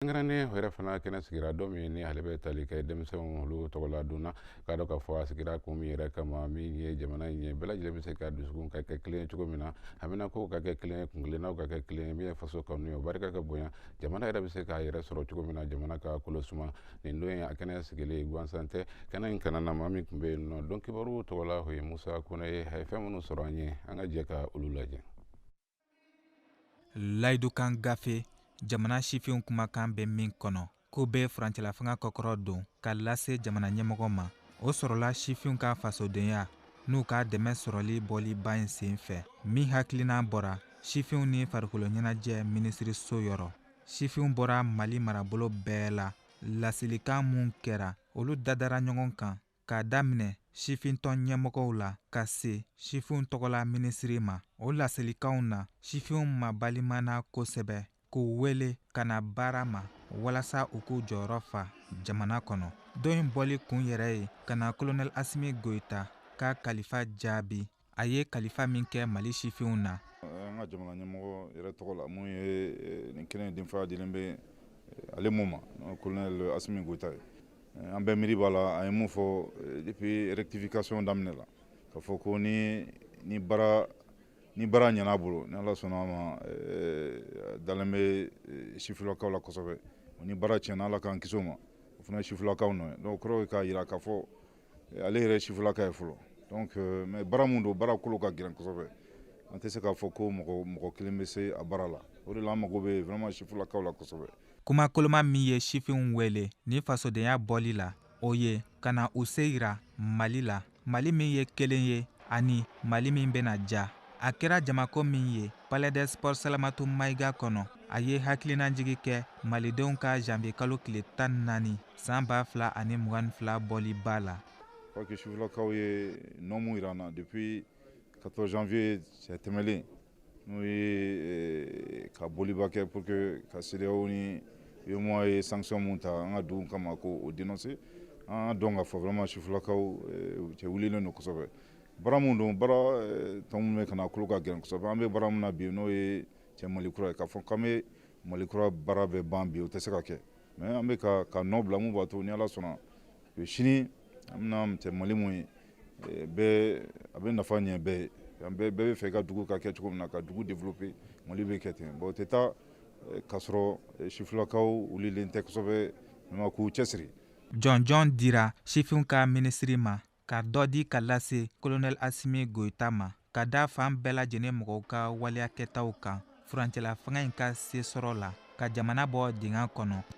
kɛrɛnkɛrɛnnen yɛrɛ fana kɛnɛ sigira dɔ min ni ale bɛ tali kɛ denmisɛnw olu tɔgɔ la donna k'a dɔn k'a fɔ a sigira kun min yɛrɛ kama min ye jamana in ye bɛɛ lajɛlen bɛ se ka dusukun ka kɛ kelen cogo min na haminankow ka kɛ kelen kunkelennaw ka kɛ kelen min ye faso kanu ye o barika ka bonya jamana yɛrɛ bɛ se k'a yɛrɛ sɔrɔ cogo min na jamana ka kolo suma nin don ye a kɛnɛ sigilen gansan tɛ kɛnɛ in kan an na maa min tun bɛ yen nɔ donc kibaruw tɔgɔ la o ye musa kone ye a ye fɛn minnu sɔrɔ an ye an ka jɛ ka olu lajɛ layidukan gafe jamana sifinw kumakan bɛ min kɔnɔ k'u bɛ furancɛlafanga kɔkɔrɔ don ka lase jamana ɲɛmɔgɔ ma o sɔrɔla sifinw ka fasodenya n'u ka dɛmɛ sɔrɔli bɔli ba in sen fɛ min hakilina bɔra sifinw ni farikolo ɲɛnajɛ minisiriso yɔrɔ sifinw bɔra mali marabolo bɛɛ la laselikan minw kɛra olu dadara ɲɔgɔn kan k'a daminɛ sifintɔn ɲɛmɔgɔw la ka se sifinw tɔgɔla minisiri ma o laselikanw na sifinw mabalimana kosɛbɛ k'u wele ka na baara ma walasa u k'u jɔyɔrɔ fa jamana kɔnɔ don in bɔli kun yɛrɛ ye ka na kolonɛl asimi goyita ka kalifa jaabi a ye kalifa min kɛ mali sifinw na an ka jamana ɲɛmɔgɔ yɛrɛ tɔgɔ la min ye nin kɛnɛ denfaya dilen bɛ ale min ma kolonɛl asimi goyita ye an bɛɛ miiri b'a la a ye mun fɔ depuis rectification daminɛ la k'a fɔ ko ni ni baara ɲɛna bolo ni ala sɔnna a ma dalen bɛ sifilakaw la kosɛbɛ ni baara tiɲɛna ala k'an kisi o ma o fana sifilakaw nɔ ye donc kɔrɔ k'a jira k'a fɔ ale yɛrɛ sifilaka ye fɔlɔ donc euh, mais baara mun don baara kolo ka gɛlɛn kosɛbɛ an tɛ se k'a fɔ ko mɔgɔ mɔgɔ kelen bɛ se a baara la o de la an mago bɛ vraiment sifilakaw la kosɛbɛ kuma koloma min ye sifinw wele ni fasodenya bɔli la o ye ka na u se yira mali la mali min ye kelen ye ani mali min bɛna ja a kɛra jamako min ye palais des sports salamatu mayiga kɔnɔ a ye hakilinajigi kɛ malidenw ka janvier kalo tile tan ni naani san ba fila ani mugan ni fila bɔliba la parce que sifilakaw ye nɔ mun jira an na depuis 14 janvier cɛ tɛmɛlen n'o ye eh, ka bɔliba kɛ pour que ka CEDEAO ni UEMOA ye sanction mun ta an ka dugu kama k'o dénoncer an b'a dɔn k'a fɔ vraiment sifilakaw eh, cɛ wulilen don kosɛbɛ baara min don baara eh, tɔ min bɛ ka na kolo ka gɛlɛn kosɛbɛ an bɛ baara min na bi n'o ye cɛ mali kura ye k'a fɔ k'an bɛ mali kura baara bɛɛ ban bi o tɛ se ka kɛ mais an bɛ ka ka nɔ bila mun b'a to ni ala sɔnna eh, sini an bɛna cɛ mali mun ye eh, bɛɛ a bɛ nafa ɲɛ bɛɛ ye an bɛɛ bɛɛ b'a fɛ ka dugu ka kɛ cogo min na ka dugu développer mali bɛ kɛ ten bon o tɛ taa k'a sɔrɔ sifilakaw wulilen tɛ kosɛbɛ mais k'u cɛsiri jɔnjɔn dira sifinw ka minisiri ma ka dɔ di ka lase kolonɛli asimi goyita ma ka da fan bɛɛ lajɛlen mɔgɔw ka waleya kɛtaw kan furancɛla fanga in ka se sɔrɔ la ka jamana bɔ dingɛ kɔnɔ